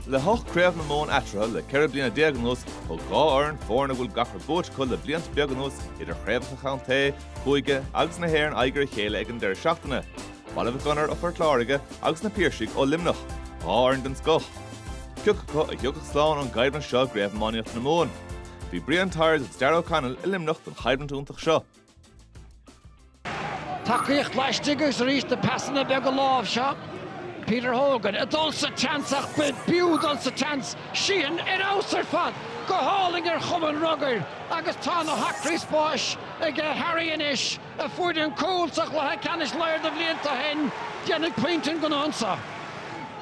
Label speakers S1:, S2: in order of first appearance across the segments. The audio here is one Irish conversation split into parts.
S1: Le hocht Craobh na Mumhan eatarthu le ceithre bliana déag anuas, thug dhá fhoireann, foirne a bhfuil gach rud buaite acu le blianta beaga anuas, idir chraobhacha contae, cúige agus na hÉireann aghaidh ar a chéile ag an deireadh seachtaine. Baile Mhic Gonair ó Phort Láirge agus na Piarsaigh ó Luimneach, dhá fhoireann den scoth. Ciocu a thiocfadh slán ón gcoimhlint seo i gCraobh Iománaíochta na Mumhan. Bhí Brian Tyers agus Darragh O'Connell i Luimneach don choimhlint iontach seo. Tacaíocht laistigh agus arís na pasanna beaga lámh seo. Peter Hogan ag dul sa tseans ach b'fhiú dul sa tseans Sheehan ar fheabhas ar fad, go hálainn ar chuma an rugbaí agus tá na hacraí spáis ag Harry anois, a fuair an cúl sa chluiche ceannais roinnt de bhlianta ó shin, déanfaidh pointe an gnó anseo.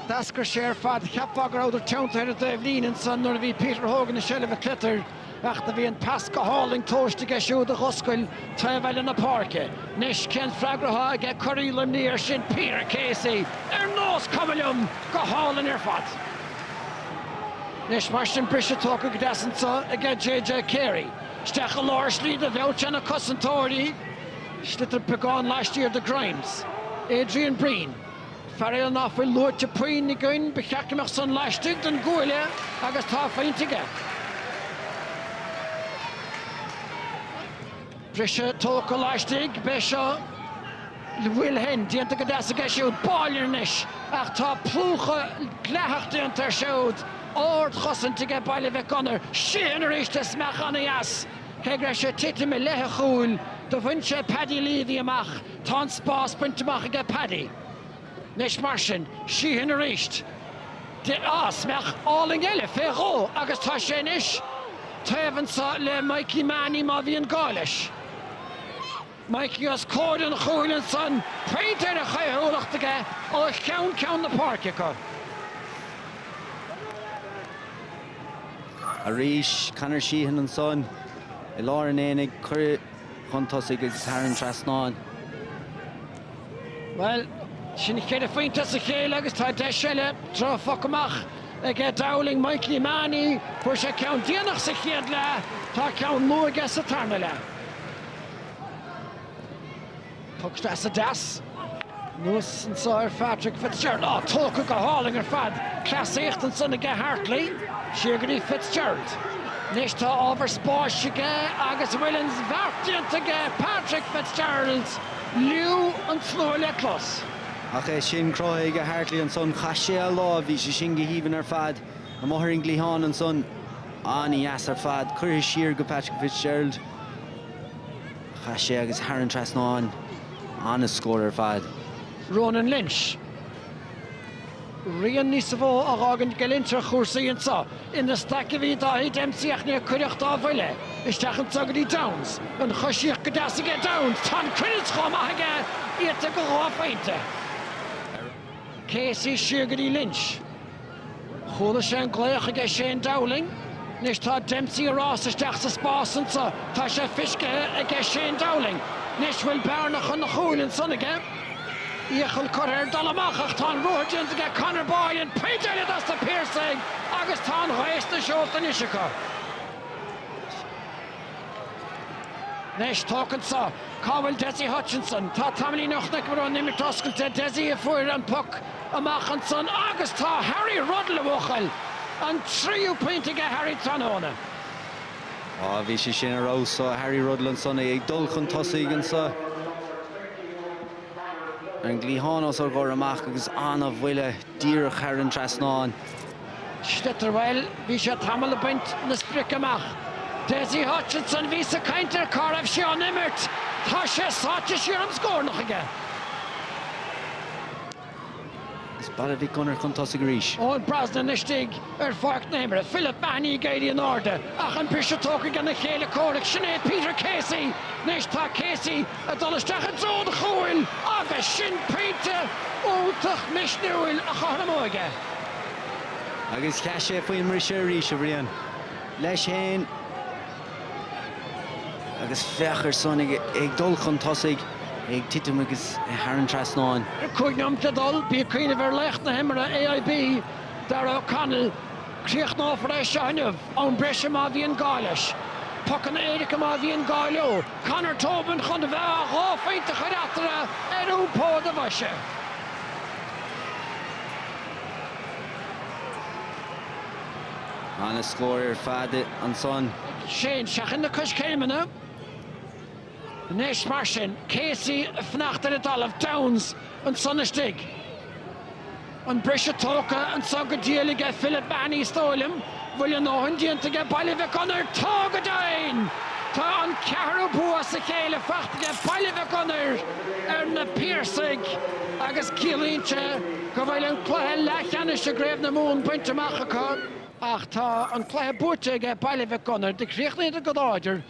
S1: D'eascair sé ar fad, cheapfá go rabhadar teanntaithe ar an dtaobh líne ansan nuair a bhí Peter Hogan i seilbh an tsliotair. ach do bhí an pas go hálainn tomhaiste aige siúd a dh'oscail taobh eile na páirce. Anois, cén freagra atá aige? Cuireann Luimneach air sin Peter Casey ar nós cuma liom go hálainn ar fad. Anois, mar sin, briseadh tógtha go deas anseo aige JJ Carey. Isteach i lár slí idir bheirt de na cosantóirí, sliotar beagán laistiar de Grimes, Adrian Breen. Faraor ná fuil luaite puinn againn ba cheart go mbeadh san laistigh den gcuaille agus tá a phointe aige. Briseadh tógtha laistigh, beidh seo le bhfuil shin déanta go deas aige siúd, bailithe anois, ach tá plúchadh dleathach déanta air siúd, ard-chosaint aige Baile Mhic Gonair, Sheehan aríst is mach an-dheas, cé go raibh sé ag titim i leith a chúil, do bhain sé Paddy Leavy amach. Tá an spás bainte amach aige Paddy. Anois mar sin, Sheehan arís. Pas mach álainn eile fé dhó agus tá sé anois taobh anso le Mikey Mahony má bhíonn gá leis. Mikey os comhair an chúil ansan, pointe ar a chaothúlacht aige ó cheann ceann na páirce acu. Arís, Conor Sheehan ansan i lár an aonaigh. Cuireadh. chun tosaigh agus thar an trasnán. Bhuel, sin ceithre phointe as a chéile agus tá deis eile droch phoc amach ag Dowling, Mikey Mahony. Fuair sé ceann déanach sa chéad leath, tá ceann luath aige sa tarna leath. Poc deas deas anuas anso ar Phatrick Fitzgerald. Áh, tógtha go hálainn ar fad. Cleasaíocht ansan aige Hartley. Siar go dtí Fitzgerald. Anois tá ábhar spáis aige agus bhfuil an bheart déanta aige. Patrick Fitzgerald, liú an tslua le clos. Ach é sin cruthaithe aige Hartley ansan. Chaith sé a lámh, bhí sé sin go haoibhinn ar fad. Amuigh ar an gcliathán ansan. An-dheas ar fad. Cuireadh siar go Patrick Fitzgerald. Chaith sé agus thar an trasnáin ana-scór ar fad. Ronan Lynch. Rian níos mó á fhágaint ag Lynch ar chúrsaí anso. Ina staic a bhí Dáithí Dempsey ach níor cuireadh dá bhuille, isteach anso go dtí Downes. An choisíocht go deas aige Downes. Tá an cruinneas chomh maith aige iata go dhá phointe. Casey siar go dtí Lynch. Chuala sé an glaoch aige Shane Dowling. Anois tá Dempsey ag rás isteach sa spás anso tá sé fiscithe aige Shane Dowling. Anois bhfuil bearna chun an chúil ansan aige. Iachall curtha air dul amach ach tá an ruathar déanta aige Conor Boyle an pointe eile dos na Piarsaigh agus tá an ghaoth sna seolta anois acu. Anois, tóch anso. Cá bhfuil Dessie Hutchinson? Tá tamaillín ó chonaic muid san imirt oscailte. Dessie a fuair an poc amach ansan agus tá Harry Ruddle a bhuachaill! An tríú pointe aige Harry tráthnóna. Á, bhí sé sin ar fheabhas ó Harry Ruddle ansan, é ag dul chun tosaigh anso ar an gcliathán os ár gcomhair amach agus ana-bhuille díreach thar an trasnán. Stutterbhile Bhí sé tamall ag baint na sprice amach. Dessie Hutchinson Bhíos ag caint ar cá raibh sé san imirt. Tá sé sáite siar im scornach aige. Is Baile Mhic Gonair chun tosaigh arís. Eoin Brosnan Istigh ar pháirc na himeartha. Philip Mahony ag éirí in airde ach an briseadh tógtha ag a chéile comhraic. Sin é Peter Casey Anois tá Casey ag dul isteach i dtreo an chúil agus sin pointe iontach misniúil a chothromóidh é agus sheas sé faoin mbriseadh arís, a Bhriain. leis féin agus féach air sin ag ag dul chun tosaigh, é ag titim agus é thar an trasnán. Le cúig nóimeat le dul, bí ag cuimhneamh ar laoch na himeartha AIB, Darragh O'Connell. Críochnófar é seo inniu. am breise má bhíonn gá leis. pocanna éirice má bhíonn gá leo. Conor Tobin chun a bheith ag dhá phointe a chur eatarthu ar iompó a bhoise. Ana scór ar fad ansan. Shane, seachain na coiscéimeanna anois mar sin. Casey ag fanacht ar an dtalamh. Downes ansan istigh. An briseadh tógtha anso go diail aige Philip Mahony is dóigh liom, bhfuil a ndóthain déanta aige Baile Mhic Gonair Tá go deimhin! Tá an ceathrú bua as a chéile faighte aige Baile Mhic Gonair ar Na Piarsaigh agus ciallaíonn sé go bhfuil an cluiche leathcheannais i gCraobh na Mumhan bainte amach acu. Ach tá an cluiche buaite aige Baile Mhic Gonair, do chríochnaíodar go láidir.